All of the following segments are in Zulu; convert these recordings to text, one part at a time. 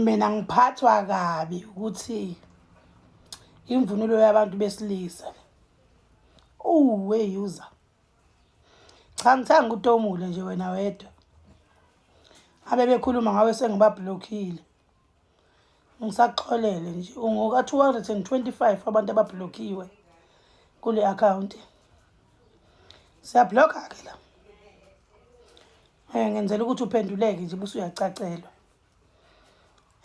mina ngiphathwa kabi ukuthi imvunulo yabantu besilisa uwe user cha ngithanga utomule nje wena wedwa abebekhuluma ngawe sengibablockile ngisaxolele nje ungoka-225 abantu ababhlokhiwe kule akhawunti siyablokha-ke la um ngenzela ukuthi uphenduleke nje busa uyacacelwa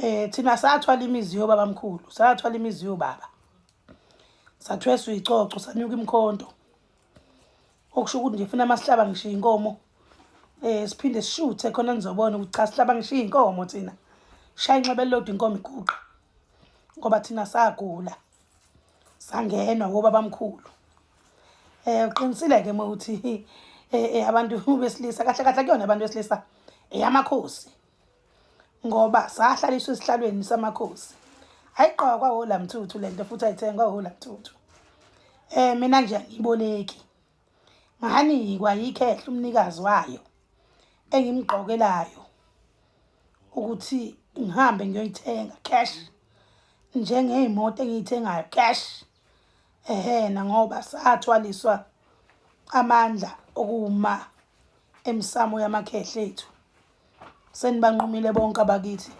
um thina sathwala imizi yobaba mkhulu sathwala imizi yobaba sathweswa icoco sanyuka imkhonto okusho ukuthi nje funa masihlaba ngisho inkomo eh siphinde sishuthe khona nizobona ukuthi cha sihlaba ngisho inkomo thina shaya inxebe lodwa inkomo iguqa ngoba thina sagula sangenwa ngoba bamkhulu eh uqinisile ke uma uthi eh, eh abantu besilisa kahle kahle kuyona abantu besilisa eyamakhosi ngoba sahlaliswa esihlalweni samakhosi ayiqoka kwahola mthuthu le nto futhi ayithengwa hola mthuthu um mina nje angiyiboleki nganikwa yikhehla umnikazi wayo engimgqokelayo ukuthi ngihambe ngiyoyithenga cash njengey'moto engiyithengayo cash ehena ngoba sathwaliswa amandla okuma emsamo yamakhehla ethu senibanqumile bonke abakithi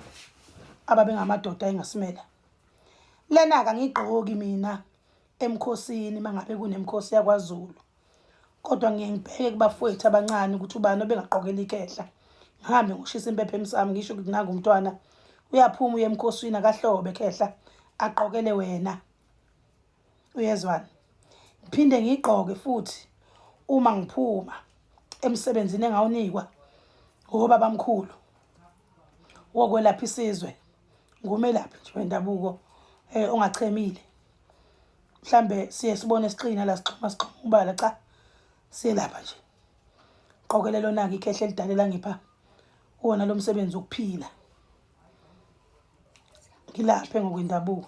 ababengamadoda engasimela lena kangigqoki mina emkhosini mangabe kunemkhosi yakwaZulu kodwa ngiye ngibheke kubafowethu abancane ukuthi ubani obengaqokela ikehla ngihambe ngoshisa impepha emsami ngisho ukuthi nangu umntwana uyaphuma uye emkhosini akahlobe khehla aqokele wena uyezwana ngiphinde ngiyigqoke futhi uma ngiphuma emsebenzini engawunikwa ngoba bamkhulu wokwelapha isizwe ngumelaphi nje wendabuko eh ongachemile mhlambe siye sibone sixina la sixhuma sixhuma ubala cha siyelapha nje qokelelo naki ikhehle lidalela ngipha wona lomsebenzi ukuphila ngilaphe ngokwendabuko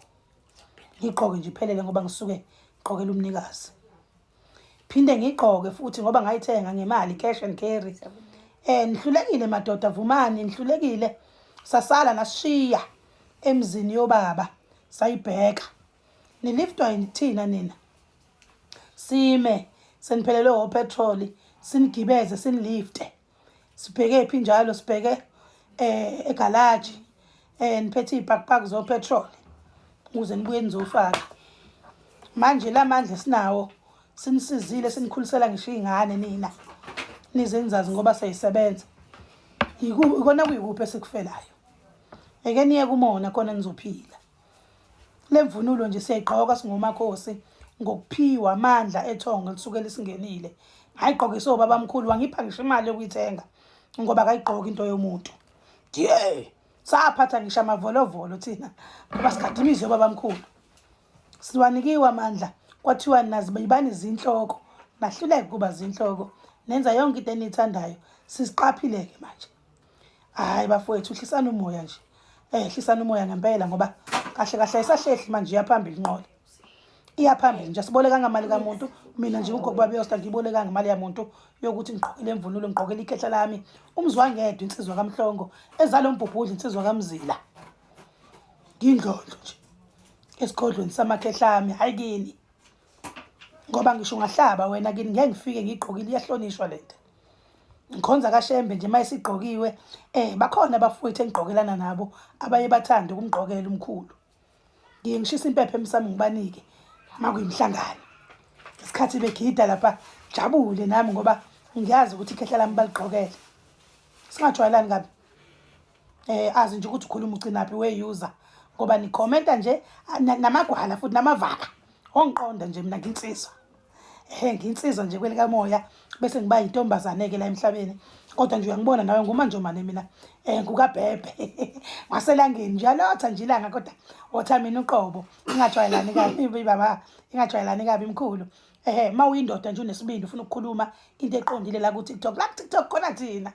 ngigqoke nje iphelele ngoba ngisuke ngigqokela umnikazi phinde ngigqoke futhi ngoba ngayithenga ngemali cash and carry eh nihlulekile madoda vumani nihlulekile sasala nashiya emzini yobaba sayibheka niliftwa yithina nina sime seniphelelwe opetrol sinigibeze sinilifte sibhekephi njalo sibheke eh egalaji eh niphethe ibackpack zo petrol ukuze nibuye nizofaka manje lamandla sinawo sinisizile sinikhulisela ngisho ingane nina nizenzazi ngoba seyisebenza yikona kuyikuphi esikufelayo eke niye kumona khona nizophila Le mvunulo nje siyayigqoka singomakhosi ngokuphiwa amandla ethongo elisuke lisingenile ngayigqokisa obabamkhulu wangipha ngisho imali yokuyithenga ngoba kayigqoki into yomuntu ye saphatha ngisho amavolovolo thina ngoba sigade imizwa yobabamkhulu siwanikiwe amandla kwathiwa nazi bayibani izinhloko nahluleke kuba zinhloko nenza yonke into eniyithandayo siziqaphile-ke manje hayi bafowethu hlisani umoya nje um eh, hlisani umoya ngempela ngoba kahle kahle isahlehli manje iyaphambili inqola iyaphambili nje asibolekanga mali kamuntu mina nje ugogo babeyosta ngiyibolekanga imali yamuntu yokuthi ngiqhokile imvunulo ngiqhokile ikhehla lami umzwangedwa insizwa kamhlongo ezalo mbhubhudla insizwa kamzila ngindlondlo nje esigodlweni samakhehla ami hayi kini ngoba ngisho ungahlaba wena kini ngeke ngifike ngigqokile iyahlonishwa lento ngikhonza kashembe nje uma esigqokiwe um bakhona abafowethu engigqokelana nabo abaye bathande ukumgqokela umkhulu ngiye ngishisa impepha emsami ngibanike uma kuyimhlangano isikhathi begida lapha jabule nami ngoba ngiyazi ukuthi ikhehla lami baligqokele singajwayelani kabi eh azi nje ukuthi ukhuluma ucinaphi we-user ngoba nikhomenta nje namagwala futhi namavaka ongiqonda nje mina nginsizwa ehe nginsizwa nje kwelikamoya bese ngiba yintombazane-ke la emhlabeni kodwa nje uyangibona nawe ngumanjomane mina um ngukabhebhe ngaselangeni nje alotha nje ilanga kodwa otha mina uqobo ingajwayelani kabi baba ingajwayelani kabi mkhulu ehe uma uyindoda nje unesibindi ufuna ukukhuluma into eqondile la ku-tiktok la ku-tiktok khona thina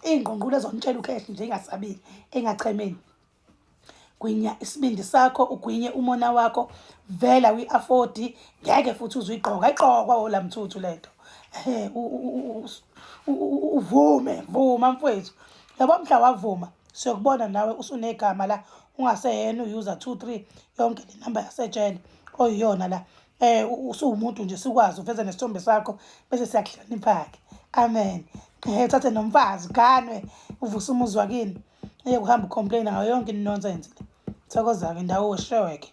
iy'ngqungqulu ezonitshela ukhehle nje ingasabile engachemeni gwinya isibindi sakho ugwinye umona wakho vela uyi-afodi ngeke futhi uzuyigqoka igqokwa wola mthuthu le nto um uvume vuma mfowethu yabo mhla wavuma siyokubona nawe usunegama la ungaseyena uyuza two three yonke le namba yasejele oyiyona la eh usuwumuntu nje sikwazi uveze nesithombe sakho bese siyakuhloniphake amen eh thathe nomfazi ganwe uvuse umuzi wakini eye kuhamba ucomplain ngayo yonke inonsense le thokozake ndawo wesheweke